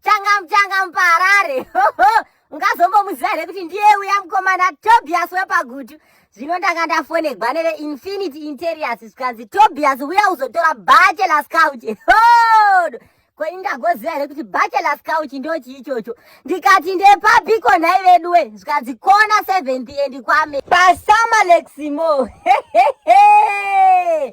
changa muchanga mupaharare ungazombomuziva here kuti ndiye uya mukomana tobias wepagutu zvino ndanga ndafonegwa neve infinity interiors zvikanzi tobias uya uzotora bachelor scout hodo ko indagoziva here kuti bachelor scout ndochi ichocho ndikati ndepabiko nhai veduwe zvikanzi kona seventh and kwame pasama leximo hehehe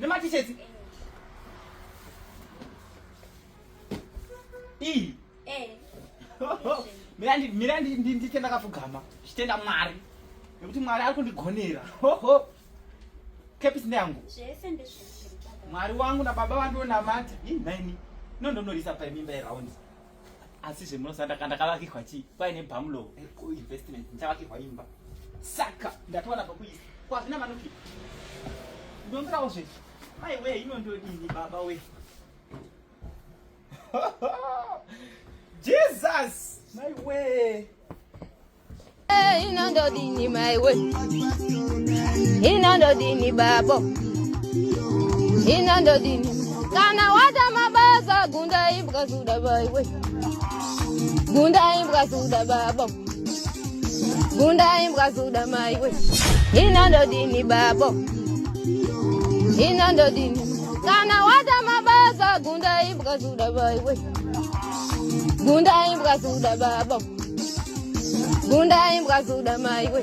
Nematisheti. Ii. Eh. Mira ndi mira ndi ndi ndi tenda kafugama. Chitenda mwari. Nekuti mwari ari kundigonera. Ho ho. Kepisi ndangu. Zvese ndizvo. Mwari wangu na baba vangu na mati. Ii nhaini. No ndonorisa pa mimba yeround. asi zvemunosa ndakavakirwa chii kwaine bamlow kuinvestment ndichavakirwa imba saka ndatowana pakuisa kwazvina manoki ndongirawo zve mai wee ino ndodini baba we jesus mai wee inondodini maiwe inondodini babo inondodini kana wata mabasa gunda imbwa zuda maiwe gunda imbwa zuda babo gunda imbwa zuda maiwe inondodini babo inondodini kana wata mabasa gunda imbwa zuda maiwe gunda imbwa zuda babo Gunda imbwa zuda maiwe.